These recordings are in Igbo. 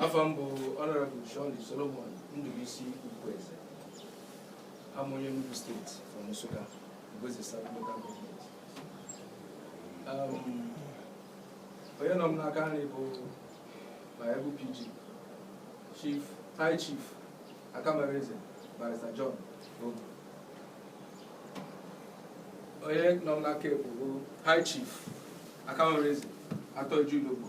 afa m bụ Honorable Sean Solomon Ndubuisi Ukwueze abụ m onye Enugu State from Nsukka Igbo-Eze South Local Government um, onye nọ m n'aka nri bụ my able PG Chief High Chief Akamareze Barrister John Ogu onye nọ m n'aka ekpe bụ High Chief Akamareze Atan Iju Ilogbo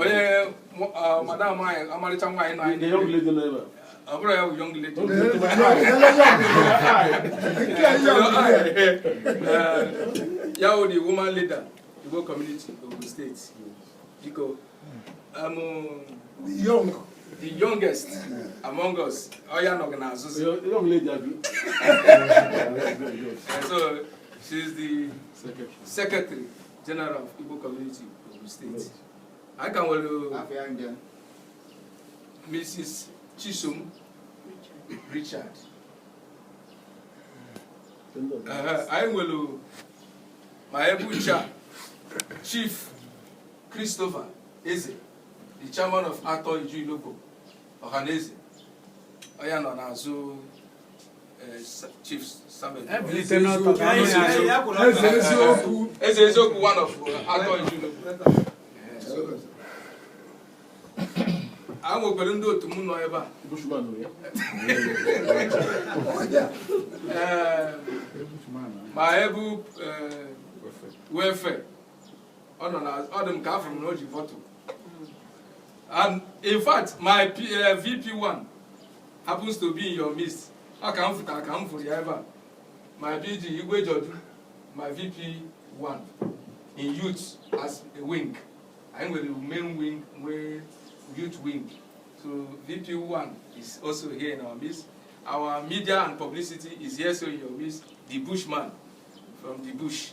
onye madam anyị ọmarịcha nwaanyị na anyị ọ bụrụ ya bụ young lady ya wụ the woman leader Igbo community Ogun State biko young the youngest among us ọ ya nọ gị n'azụzi so she's the secretary General of Igbo Community Ogun State anyị ka nwere Mrs. Chisom Richard anyị nwere my able chair Chief Christopher Eze the chairman of Atan Iju Ilogbo Ọhaneze onye nọ n'azụ Eze Eziokwu one of Atan Iju Ilogbo a nwekwara ndị otu m nọ ebe a my able welfare ọ nọ na ọ dị m ka afụ m na o ji vọtụ and in fact my P, uh, vp1 happens to be in your midst ọ ka m fụtara ka m fụrụ ya ebe a my bg Igwe George my vp1 in youth as a wing anyị nwere main wing nwee youth wing so vp1 is also here in our midst our media and publicity is here so in your midst the bushman from the bush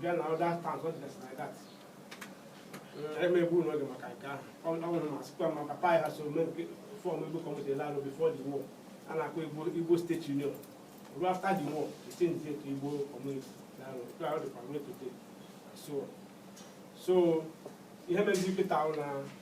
bịa na other towns ọ dịgasị na dat emegbu n'oge maka nke ahụ ọ nwere ma sịkwa ma papa ya so mee nke form Igbo community larụ before the war a na-akpọ Igbo Igbo State Union ruo after the war they changed it to Igbo community larụ nke ahụ dịkwa mee today so so ihe mezi kịta ahụ na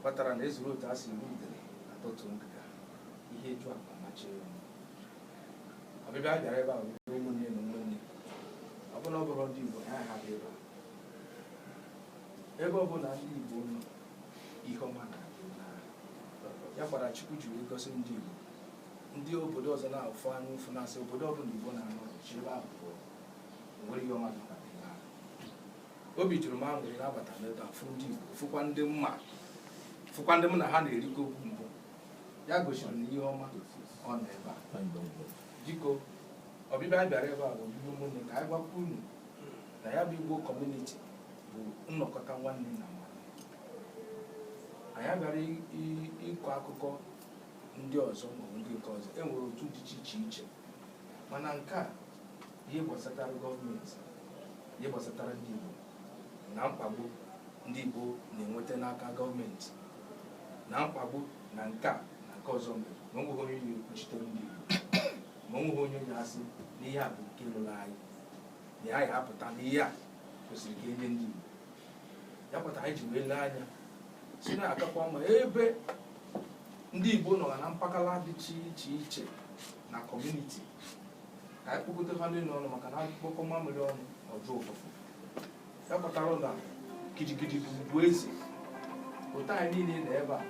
kpatara na e zuru otu a si eri udere a tọtuo ngịga ihe ju akpa amachie ya ọnụ. ọbịbịa a bịara ebe a bụ ndị ụmụnne na ụmụnne ọ bụla ọ bụrụ ndị Igbo ha ha bi ebe a. ebe ọ bụla ndị Igbo nọ ihe ọma na-adị na ya kwara Chukwu ji wee gọzie ndị Igbo ndị obodo ọzọ na-afụ anya ụfụ na-asị obodo ọbụla Igbo na-anọghị ebe ahụ pụọ o nwerọ ihe ọma dị na obi juru m aṅụrị na abata m ebe a fụ ndị Igbo fụkwa ndị m ma fụkwa ndị m na ha na-erikọ oge mbụ ya gosiri na ihe ọma ọ nọ ebe a biko ọbịbịa anyị bịara ebe a bụ ọbịbịa ụmụnne ka anyị gwakwa unu na ya bụ Igbo kọmuniti bụ nnọkọta nwanne na nwanne anyị abịarọ ịkọ akụkọ ndị ọzọ maọbụ ndị nke ọzọ e nwere otu dị iche iche iche mana nke a ihe gbasatara gọọmenti ihe gbasatara ndị Igbo na mkpagbu ndị Igbo na-enweta n'aka gọọmenti na mkpagbu na nke a na nke ọzọ mere ma o nweghị onye na-ekwuchitere ndị Igbo ma o nweghị onye na-asị na ihe a bụ nke ruru anyị na ya ya apụta na ihe a kwesịrị ka e nye ndị Igbo ya kpata anyị ji wee lee anya sị na ọ kakwa mma ebe ndị Igbo nọ na mpaghara dị iche iche na kọmuniti ka anyị kpokọta ha niile ọnụ maka na a kpokọọ mamịrị ọnụ o juo ụfụfụ ya kpatara na gidigidi bụ ugwu eze otu anyị niile nọ ebe a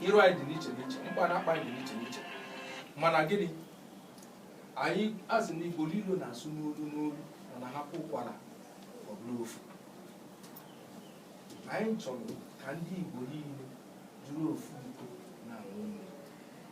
iru anyị dị n'iche n'iche mkpa na akpa anyị dị n'iche n'iche mana gịnị anyị asị na igbo niile na-asụ n'olu n'olu mana ha kwaa ụkwara ọ bụrụ ofu anyị chọrọ ka ndị igbo niile dịrị ofu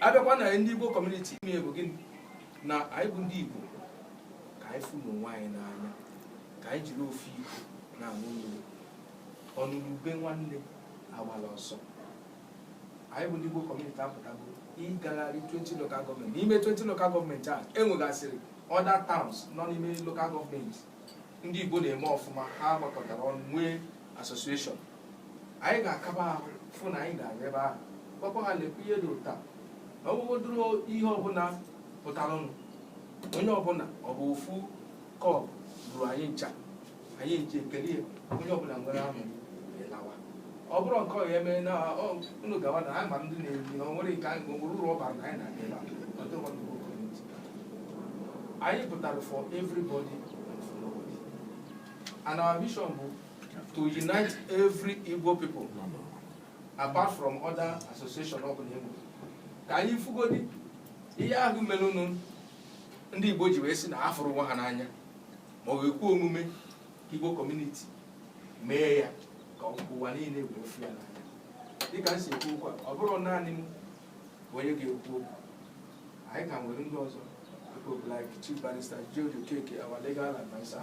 a bịakwa na ndị Igbo kọmuniti ime bụ gịnị na anyị bụ ndị Igbo ka anyị fụnụ onwe anyị n'anya ka anyị jiri ofu iko na-aṅụ mmiri ọ nụrụ ube nwanne agbala ọsọ anyị bụ ndị Igbo kọmuniti apụtago ịgagharị 20 local gọọmenti n'ime 20 local gọọmenti a e nwegasịrị other towns nọ n'ime local gọọmenti ndị Igbo na-eme ọfụma ha gbakọtara ọnụ nwee association anyị ga-aga ebe ahụ fụ na anyị ga-aga ebe ahụ gwakwa ha lekwa ihe dị ụta na ọgwụgwodoro ihe ọbụla pụtaranụ onye ọbụla ọ bụ ofu kọbọ ruru anyị ncha anyị ncha ekee ya onye ọbụla nwere ahụ wee lawa ọ bụrụ nke ọ ya eme na ọ- unu gawa na anyị ma ndị na-eri na o nwere nke anyị nwere ụlọ ọbara na anyị na-aga ebe a ọ dịghị ọnụ bụ kọmiti. anyị pụtara for everybody and for nobody and our vision bụ to unite every Igbo people apart from other association ọ bụla e nwere ka anyị fugodi ihe ahụ merenụ ndị Igbo ji wee sị na afụrọ onwe ha n'anya ma ọ ga-ekwe omume Igbo kọmuniti mee ya ka ụwa niile wee fụ ya n'anya dịka m si ekwu okwu a ọ bụrọ naanị m bụ onye ga-ekwu okwu anyị ka nwere ndị ọzọ people like Chief Barrister George Okeke our legal adviser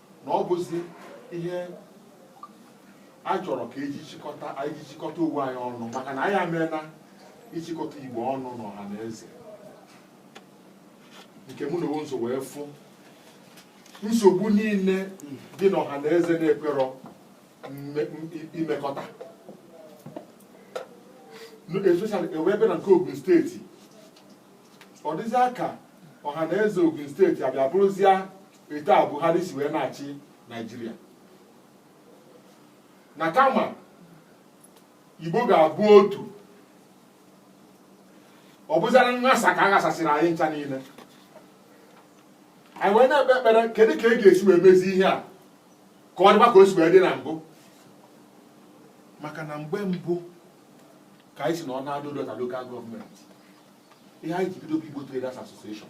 na ọ bụzi ihe a chọrọ ka eji chịkọta anyị chịkọta onwe anyị ọnụ maka na anyị ameela ịchịkọta igbo ọnụ n'ọha na eze nke mụ na onwe m so wee fụ nsogbu niile dị n'ọha na eze na-ekwerọ imekọta especially e wee bịa na nke Ogun steeti ọ dịzịa ka ọha na eze Ogun steeti abịa bụrụzịa etu a Buhari si wee na-achị Naijiria na kama Igbo ga-abụ otu ọ bụzara nghasa ka a ghasasịrị anyị ncha niile anyị wee na-ekpe ekpere kedu ka e ga-esi wee mezi ihe a ka ọ dịba ka o si wee dị na mbụ maka na mgbe mbụ ka anyị si nọọ na Ado-Odo Ota lokal gọọmenti ihe anyị ji bido bụ Igbo Traders Association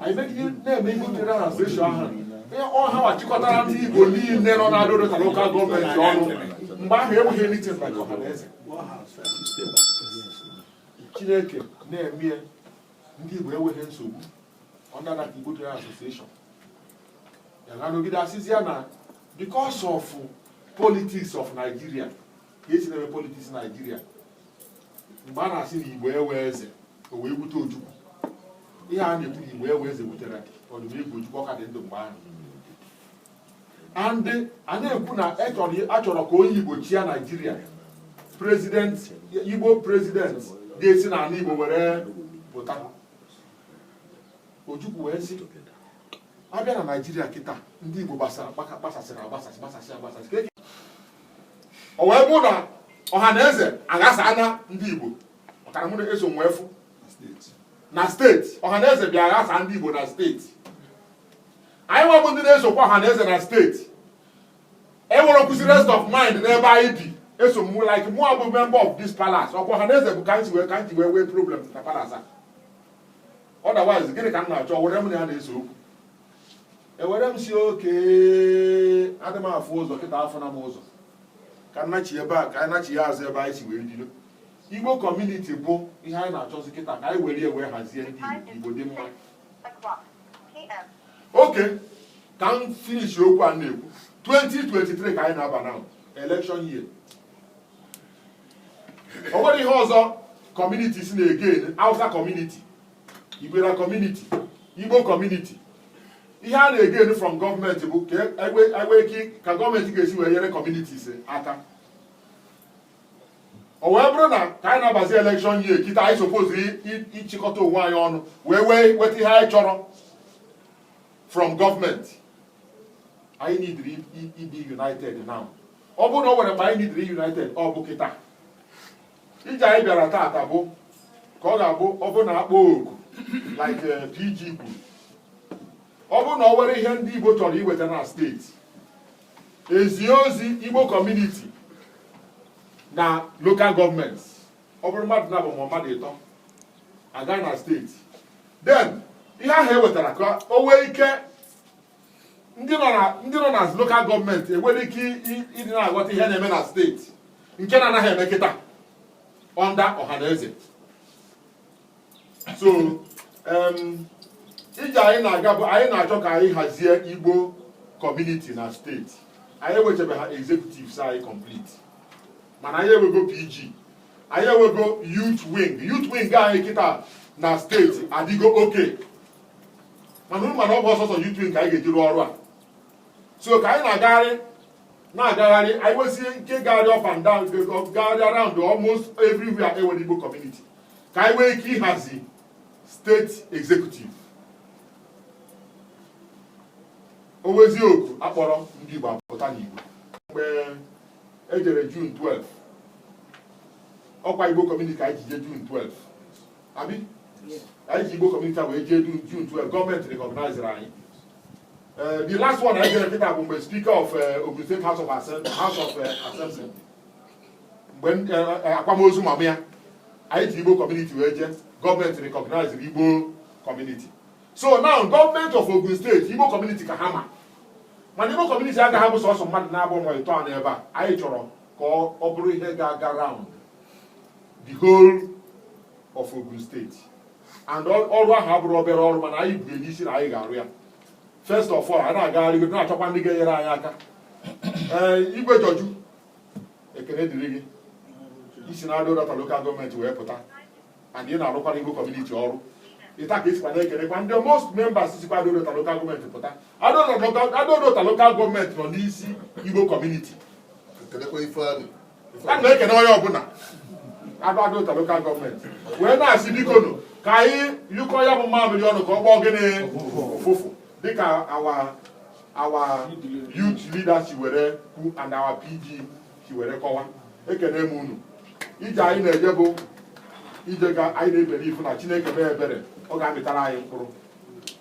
anyị megide na-eme association ahụ ọha achịkọtara ndị Igbo niile nọ na Ado-Odo Ota lokal gọọmenti ọnụ mgbe ahụ enweghị anything maka ọha na eze Chineke na-eme ndị Igbo enweghị nsogbu ọ na-ada ka Igbo General Association ya na-anọgide a sịzịa na because of politics of Nigeria ka esi na-eme politiks naijiria mgbe a na-asị na igbo enwe eze o wee bute ojukwu ihe a na-ekwu na igbo enwe eze butere ọdịnihu ojukwu ọ ka dị ndụ mgbe ahụ and a na-ekwu na a chọrọ ka onye igbo chịa naijiria prezident igbo prezident ga-esi n'ala igbo were pụta ojukwu wee sị a bịa na naijiria kịta ndị igbo gbasara gbasasịrị agbasasị gbasasị agbasasị o wee bụ na ọha na eze aghasana ndị Igbo maka na mụnwa eso m wee fụ na steeti ọha na eze bịa aghasa ndị Igbo na steeti anyị nwa bụ ndị na-esokwa ọha na eze na steeti enwerọkwazị rest of mind n'ebe anyị bi eso m like mụ abụ member of this palace okwu ọha na eze bụ ka m si wee ka m ji wee nwee problem na palace a otherwise gịnị ka m na-achọ were m na ya na-ese okwu ewere m sị oke adị m afụ ụzọ kịta afụna m ụzọ ka m nachi ebe a ka anyị nachia azụ ebe anyị si wee bido igbo kọmuniti bụ ihe anyị na-achọzi kịta ka anyị were wee hazie ndị igbo dị mma oke ka m finish okwu a na-ekwu 2023 ka anyị na-aba na election year o nwere ihe ọzọ kọmuniti si na-ege awụsa kọmuniti Igbere community Igbo community ihe a na-egain from gọọmenti bụ ka e nwee ike ka gọọmenti ga-esi wee nyere communities aka o wee bụrụ na ka anyị na-abazi elekshọn year kịta anyị sopozu ịchịkọta onwe anyị ọnụ wee wee weta ihe anyị chọrọ from gọọmenti anyị nidiri ịdị united now ọ bụrụ na o nwere mgbe anyị nidiri united ọ bụ kịta ije anyị bịara taata bụ ka ọ ga-abụ ọ bụ na a kpọọ oku like eh, PG kwuru ọ bụrụ na o nwere ihe ndị Igbo chọrọ iweta na steeti e zie ozi Igbo kọmuniti na lokal gọọmenti ọ bụrụ mmadụ naabọ ma mmadụ ịtọ agaa na steeti then ihe ahụ e wetara ka o nwee ike ndị nọ na lokal gọọmenti enwere ike ịdị na-aghọta ihe na-eme na steeti nke na-anaghị eme kịta under Ọhanaeze so ije anyị na-aga bụ anyị na-achọ ka anyị hazie igbo kọmuniti na steeti anyị enwechebeha executives anyị complete mana anyị enwego PG anyị enwego youth wing youth wing anyị kịta na steeti adịgo okay mana unu ma na ọ bụrọ sọsọ youth wing ka anyị ga-eji rụọ ọrụ a so ka anyị na-agagharị na-agagharị anyị nwezie ike gagharị up and down gagharị around almost everywhere e nwere Igbo community ka anyị nwee ike ịhazi steeti executive o nwezie oku a kpọrọ ndị Igbo apụta n'igwe mgbe e jere June 12 ọ kwa Igbo community ka anyị ji jee June 12 abi anyị ji igbo kọmuniti wee jee du June 12 gọọmenti rekọgnaiziri anyị Eh, the last one anyị jere kịta bụ mgbe speaker of eh, ogun state house of Assem- house of eh, assembly mgbe n- eh, eh, akwamozu mama ya anyị ji igbo kọmuniti wee jee gọọmenti rekọgnaiziri igbo kọmuniti so now gọọmenti of ogun steeti igbo kọmuniti ka ha ma mana igbo kọmuniti agaghị abụ sọsọ mmadụ naabọ ma ịtọ n'ebe a anyị chọrọ ka ọ ọ bụrụ ihe ga-aga round the whole of Ogun steeti and ọrụ ahụ abụrọ obere ọrụ mana anyị bu n'isi na anyị ga-arụ ya first of all a na-agagharị na-achọkwa ndị ga-enyere anyị aka ee eh, Igwe George ekene dịrị gị i si na Ado Odo Ota lokal gọọmenti wee pụta and ị na-arụkwara Igbo kọmuniti ọrụ etu a ka e sikwa na-ekenekwa ndị most members sikwa Ado Odo Ota lokal gọọmenti pụta Ado Odo Ota lokal gọọmenti nọ n'isi igbo kọmuniti ana m ekene onye ọbụla Ado Odo Ota local government wee na-asị bikonu ka anyị nyụkọọ ya bụ mamịrị ọnụ ka ọ gbọọ gịnị ụfụfụ dịka our our youth leader si were kwu and our PG si were kọwa ekene m unu ije anyị na-eje bụ ije ga anyị na-ebere ifu na chineke mee ebere ọ ga-amịtara anyị mkpụrụ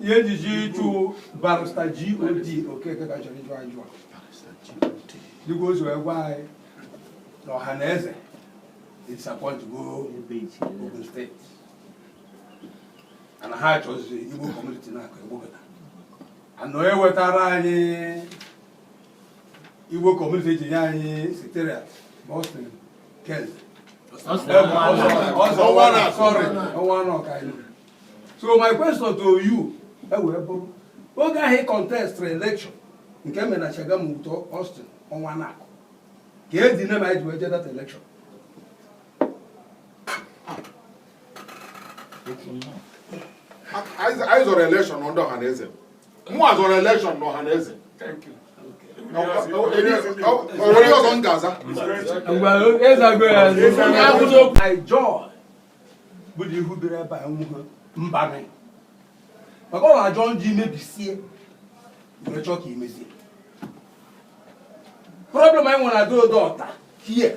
ihe ejiji ịchụ Barrister God Okeke ka chọrọ ịjụ ajụ dịka o si wee gwa anyị na Ọhanaeze disappointgo Ogun State ana ha achọzi Igbo community na-akụ egbogota anọ ewetara anyị Igbo community ji nye anyị siteria Boston Kent so my question to you ewee bụrụ oge ahụ ị contest election nke mere na Shagamu ụtọ Austin Nwankwo ka edi nne ma anyị ji wee jee that election anyị zọrọ election ndị Ọhanaeze mụ azọrọ election na Ọhanaeze o nwere ọzọ m ga-aza John bụ na ihu bere ebe a nwụghị mbanị maka ọ na-ajọ njọ imebisie were chọọ ka imezie problem anyị nwere na Ado Odo Ota here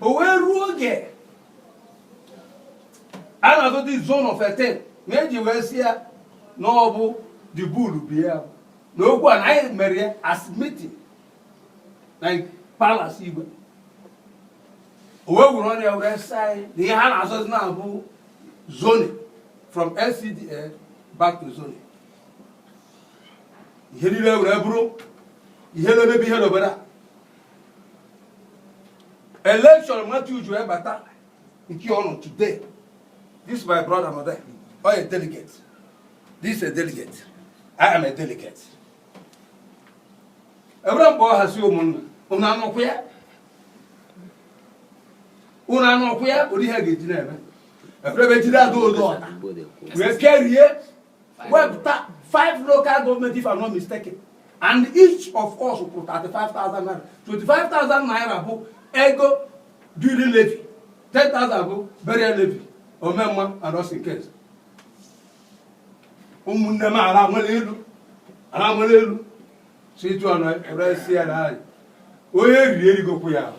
o wee ruo oge a na-azọ the zone of etin na eji wee si ya na ọ bụ the bull bi ya na okwu a na anyị mere ya as meeting na palace igwe o wee were ọnụ ya were saa anyị na ihe ha na-azụzi na-abụ zone from LCDA back to zone ihe niile were bụrụ ihe na-emebi ihe n'obodo a election Matthew ji wee bata nke ọ nọ today this my brother nọ there ọ a delegate this a delegate I am a delegate ebere mgbe ọ hazi ụmụnna unu anụkwa ya unu anụkwa ya ụdị ihe ga-eji na-eme ebere ebe dị na Ado Odo Ota wee kerie wepụta five local government if I'm not mistaken and each of us kwụrụ 35,000 naira 25,000 naira bụ ego duly levy 10,000 bụ burial levy omemma and us in case ụmụnne m ala nwere elu ala nwere elu si etu ọnụ eresi ya na anyị onye riri erigokwu ya ahụ.